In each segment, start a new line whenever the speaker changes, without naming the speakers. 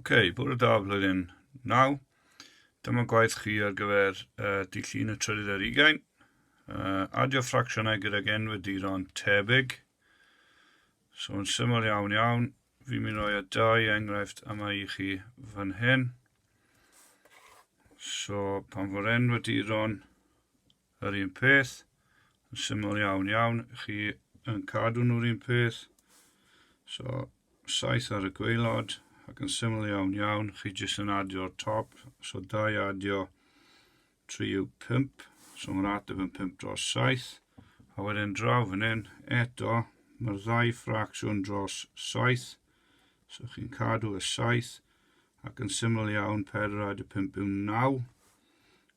okay, bwrw da flwyddyn 9. Dyma gwaith chi ar gyfer uh, dillun y trydydd ar ugain. Uh, adio ffracsiynau gydag enweduron tebyg. So yn syml iawn iawn, fi'n mynd roi y dau enghraifft yma i chi fan hyn. So pan fo'r enweduron Yr un peth, yn syml iawn iawn, chi yn cadw nhw'r un peth. So, saith ar y gweilod, ac yn syml iawn iawn, chi jyst yn adio'r top. So, da i adio 3 yw 5, so mae'r ateb yn 5 dros 7. A wedyn draw fan hyn, eto, mae'r ddau ffracsiwn dros 7. So, chi'n cadw y 7, ac yn syml iawn, 4 adio 5 yw 9.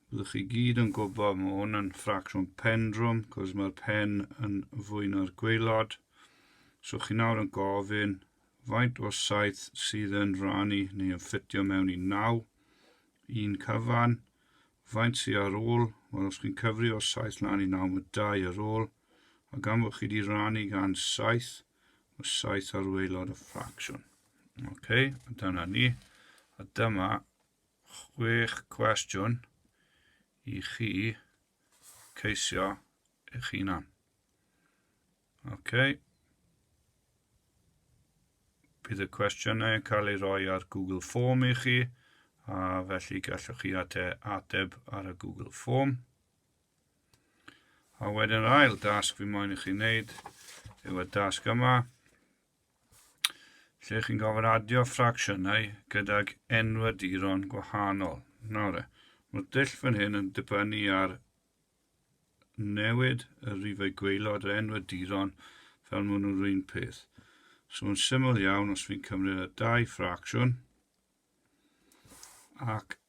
Byddwch chi gyd yn gwybod, mae hwn yn ffracsiwn pendrwm, cos mae'r pen yn fwy na'r gweilod. So chi nawr yn gofyn, faint o saith sydd yn rhannu neu yn ffitio mewn i naw, un cyfan, faint sydd ar ôl, wel os chi'n cyfri o saith lan i naw, mae dau ar ôl, a gan fod chi wedi rhannu gan saith, mae saith ar weilod y ffracsiwn. OK, dyna ni, a dyma chwech cwestiwn i chi ceisio eich hunan. OK. Bydd y cwestiynau yn cael ei roi ar Google Form i chi, a felly gallwch chi ateb ar y Google Form. A wedyn yr ail dasg fi moyn i chi wneud yw y dasg yma, Lle chi'n gofyn adio ffracsiynau gydag enwaduron gwahanol. Nawr e, mae'r dull fan hyn yn dibynnu ar newid y rifau gweilod yr enwaduron fel maen nhw'n rhywun peth. So yn syml iawn, os fi'n cymryd y dau ffracsiwn ac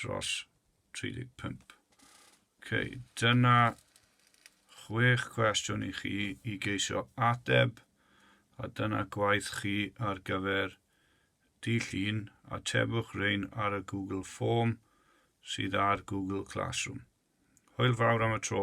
dros 35. Ok, dyna chwech cwestiwn i chi i geisio ateb a dyna gwaith chi ar gyfer dydd llun, atebwch rein ar y Google Form sydd ar Google Classroom. Hwyl fawr am y tro.